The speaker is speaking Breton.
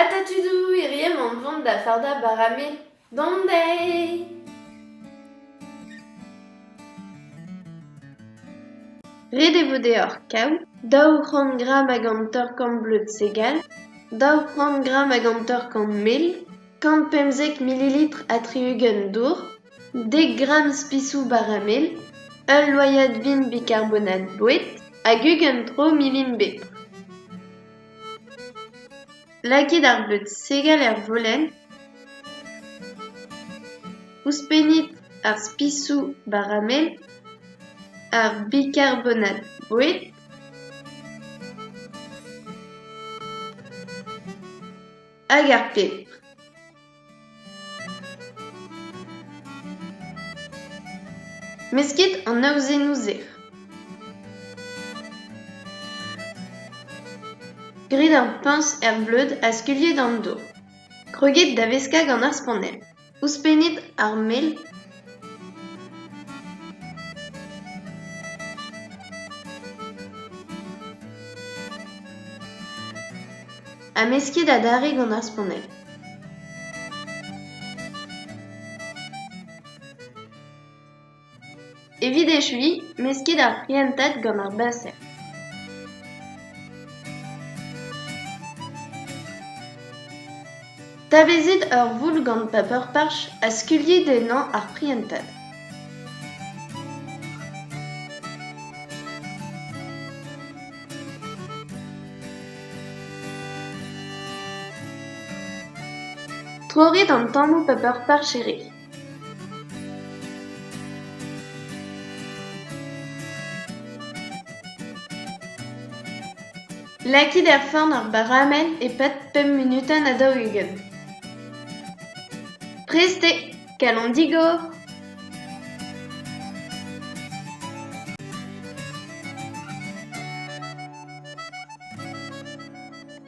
Ata tudoù hiriv on vont da fardañ bara me dont dezhe. Ret eo vo deoc'h kaout daou c'hant gramm ag an torr-korn bleud segal, daou c'hant gramm ag an torr-korn mel, kant pemzek mililitr ha tri-ugent dour, dek gramm spisoù bara mel, ul loyad vin bikarbonat boued hag ugent tro milin bepr. Lakit ar bleud segal er volenn, ouzhpennit ar spisoù baramel, ar bikarbonat boued. hag ar pebr. Meskit an aozennoù-se. Grit ar puñs er bleud ha skuilhit an do. Kreugit da veskañ gant ar spannell. Ouzhpennit ar mell Ha mesket adarre gant ar spannell. Evit echuiñ, mesket ar prientad gant ar baser. Tavezit ur voul gant paper-parch ha skuilhit ennañ ar prientad. Trorit an tammoù paper-parch e ri. Lakit er forn ar baramell e-pad pemp munutenn ha daou-ugent. Prest eo, kalon digor!